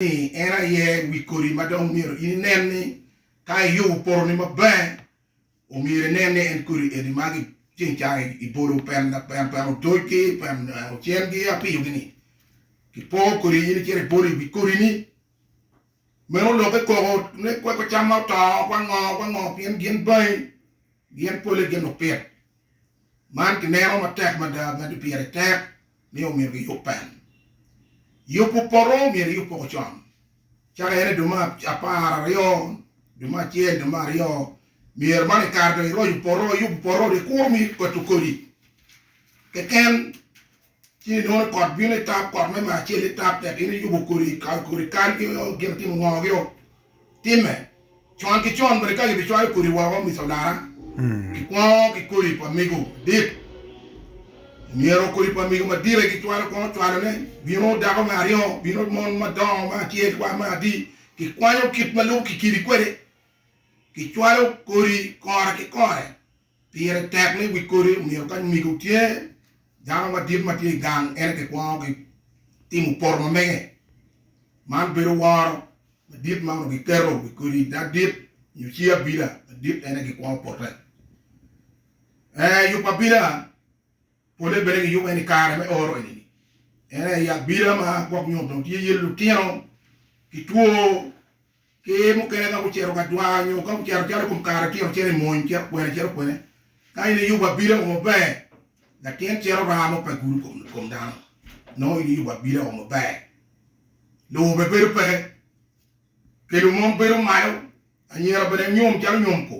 ni en aye wi kodi ma dong myero in inen ni ka iyubo potoni maber, omyero inen ni en kodi eni ma ceng cang ibolo peno otocgi, peno ocengi apiyogi ni kipoo kodi in icito ibolo iwi kodini. Meno olokke koko ni kweko cam ma oto, kwango kwango pien gin bangi, gin pole gin lupit. man kineno matek mada magi pire tek ni omyero giyub pen. Yubu poto myero iyub poko con caka ene dwe ma apar aryo dwe ma acel dwe ma aryo myero man ikare dong iroco poto iyubu poto ri kuro mi kweto kodi keken. Ci inwono kot bino i tap, kot me maa acel i tap tek in iyubo kodi kodi kal ki gin timo ngo gi o time. Con ki con bene ka gibi cwayo kodi woko miconara ki kwongo ki kodi pa migo madit. Myero kodi pa migo madit aye gicwalo kwongo cwalo ne bino dako me aryo bino mon madongo me acel wa me adi ki kwanyo kit malubo ki kidi kwede ki cwalo kodi kore ki kore. Pire tek ni wi kodi omyero ka nyige otye dano madit ma tye i gang en aye kwongo gitimo poto ma mege. Man bedo woro madit ma onongo giketo wi kodi adit nyo ci abila madit en aye gikwongo pote. Ee, yubo abila pole bene giyubo en i kare me oro eni-ni. En aye abila ma gwok nyo dong tye iye lutino ki two Ki mukene ka gucito ka dwango nyo ka gucito calo i kom kare tino cito i mony cito kwene cito kwene, ka in iyubo abila o maber, latin cito raa mo pe gudo i kom dano, nongo in iyubo abila o maber, lobo bene bedo peke, kelo mom bedo malo, anyira bene nyom calo nyom ko,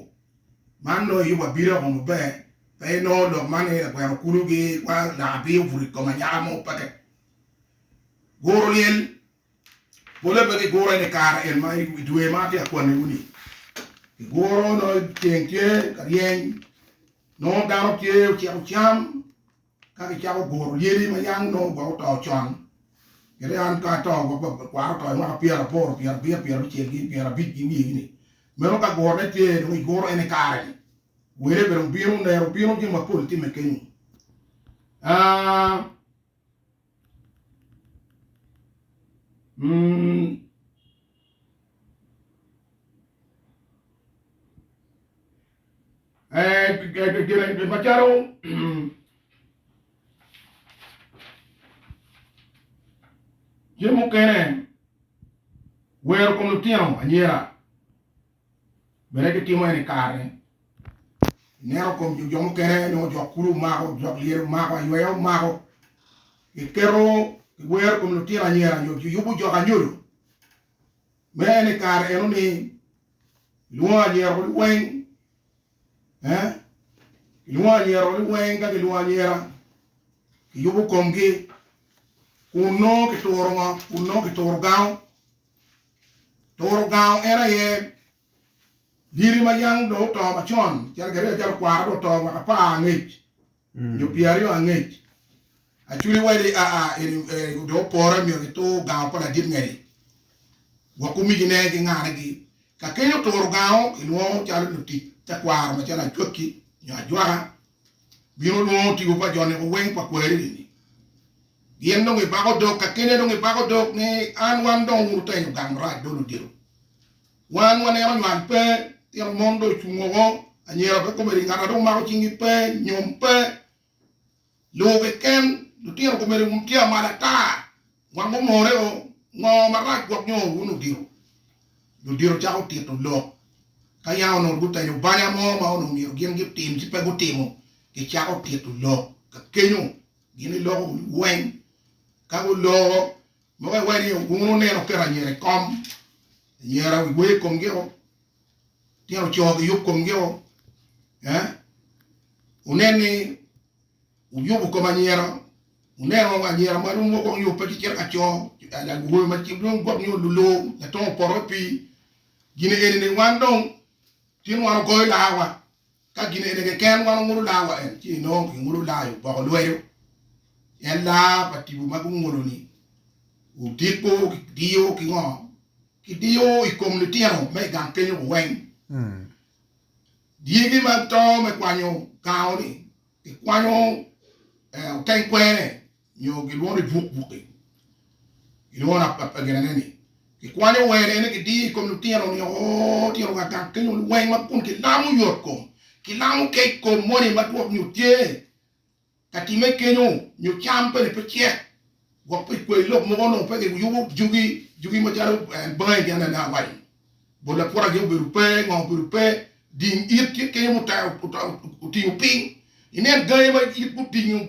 man nongo iyubo abila o maber, pe inongo lok man ni lagweno kulu gi langa abia obuto i kom anyaka mo peke. Guro lyel Pole pe gigure ni kare en ma i dwe ma atye ka kwanniwu-ni. Giguro nongo ceng tye ka ryeny, nongo dano tye ociko cam, ka gicako guro lyeli ma yam nongo gwok oto con. Kadi an ka ato, gwok pa kwara oto i mwaka pyeraboro, pyerabiro, pyerabicel ki pyerabic ki wiye-ni. Meno ka gurone tye, dong iguro en i kare-ni. Wele bene obino, nera obino, jami mapol timme kenyu. Cen mukene wero kom lutino anyira. Bene gitimo ene kare ineno kom jo mukene nongo jok kulu omako, jok lyel omako, ayweya omako, giketo giwero kom lutino anyira nyo giyubo jok anyodo. Me ene kare eno ni lwongo anyira kuli weng eh lwongo anyira kuli weng ka gilwongo anyira giyubo komgi kun nongo kituro ngo kun nongo kituro gango Turo gango en aye diri ma yam dong oto macon, calo gin acel okwara dong oto mwaka apar angec nyo pyeraryo angec. Achuli wadi aa eni dong opore myero gitur gango pa ladit ngedi gwok kumijine ki ngane gi. Kakeny oturo gango kilwongo calo lutic tekwaro macalo acwakki nyo ajwaka. Bino lwongo tipo pa joni oweng pa kwariri ni gin dong gibako dog kakene dong gibako dog ni an wan dong wun wutenyo gang marac do ludito wan waneno nywal pe tino mon do ocung woko anyira pe komedi ngata dong mako cingi pe nyom pe luwu keken lutino komedi tye amal ata Gwok gumore o, ngo marac gwok nyo wun odito? Jo dito cako tito lok, ka yam onongo gutenyo banya mo ma onongo myero gin gitim ci pe gutimo, gicako tito lok ka kenyo, gin giloko weng, ka guloko mogo iwe ni wun wuneno oketo anyira i kom, anyira wi weye komgi o, tino co giyub komgi o, eh, wunen ni. Wuyubo kom anyira, wunen woko anyira ma rom woko nio pe ki kite ka co, awobe ma ki dong gwok nio lulur latongo opoto i pii. Gin eni ni wan dong tin wan ogoyo laa wa, ka gin eni keken wan ongulo laa wa en, ci inongo ki ngulo laa i oboko lwedo. En laa pa tibu ma gungulo ni wudiko ki diyo ki ngo? Ki diyo i kom litino me i gang kenyo ku weng. Dyegi ma to me kwanyo kao-ni gikwanyo oteng kwene nyo gilwongo ni buk buki, gilwongo ginene ni gikwanyo wene ni gidiyo i kom lutino nio tino ka gang kenyo lweny ma kun gilamo yot kom, gilamo kec kom moni ma twok nyo tye ka timme kenyo nyo cam bene pe cek gwok pi kwayi lok mogo onongo pe giyubo jugi jugi macalo en bangi gin ene awaco ni bot lapwota gi obedo pe ngo obedo pe ding it tye kenyo mutayo otingo piny inen gangi ma it mutingo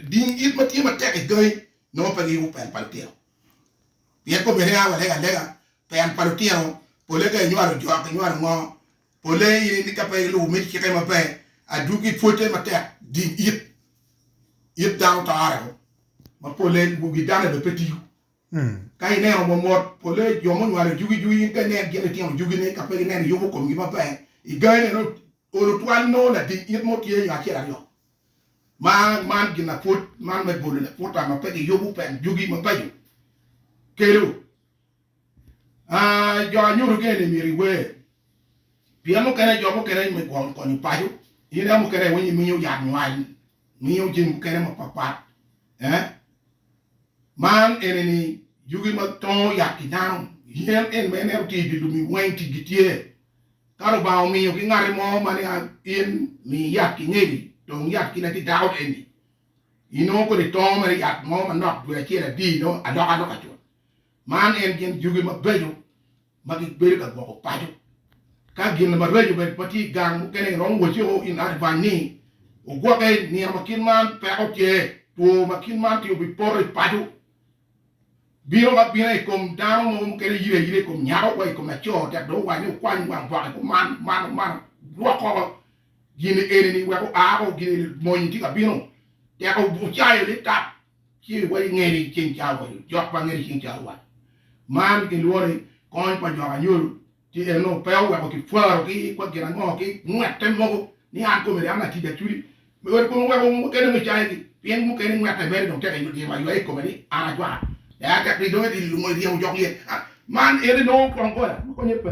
ding it ma tye matek i gangi nongo pe giyubo pel pa lutino pien komine a walega alega pel pa lutino pole ka inywalo jok inywalo ngo Polle aye ni ka pe ilubo me cikke maber, adwogi ipwote matek ding it it dano tore o. Ma polle lubogi dane bene pe tiyo. Ka ineno mo mot, polle jo munywalo ijugi jugi in pe inen gin itino jugi ni ka pe gineno iyubo komgi maber i gangi ne nongo olo twal nongo lading it mo tye nyo acel aryo ma man gin lapwod man me bolo laputa ma pe giyubo pek jugi mabeco kelo. Jo anyuto gene ni myero iwer, pien mukene jo mukene me gwoko konyo paco in a mukene iwinyo imiyo yat nywal, imiyo jami mukene mapat pat eh man eni ni yugi ma tongo yat ki dano yen eni ma ineno tye idye lum-mi weng ticgi tye, ka Lubanga omiyo ki ngati mo ma ni a in mi yat ki ngegi tong yat kit ma tye dako eni inongo kodi tongo mere yat mo manok dwe acel adi inongo alokaloka cut. Man en gin yugi mabeco ma gibedo ka gwoko paco. Ka gin maraco bene ma tye i gang mukene iromo waci o in advance ni ogwoke, nino ma kit man peko tye, two ma kit man tye obi poto i paco. Bino ma bino i kom dano mogo mukene yide ayida i kom nyako wa i kom laco tek dong owac ni okwany wang gwake ko man mano mano gwok koko gin eni ni wek oa ko gin eni mony tye ka bino tek ocayo ni tap. Ci iwaco i nge ni, Ceng ca owaco, jok pa nge ni ceng ca owaco. Man ki lworo ni kony pa jok anyolo tye en onongo pe oweko ki pwaro ki kwa gin ango ki ngwete mogo ni an komedi an atic acudi me weko kong weko mukene me caye gi pien mukene ngwete mere dong tek ywa ywa ywa i kome ni an acwaka ya tek ni dong edi lungo iryemo jok lye man en inongo kong goya ma konye pe.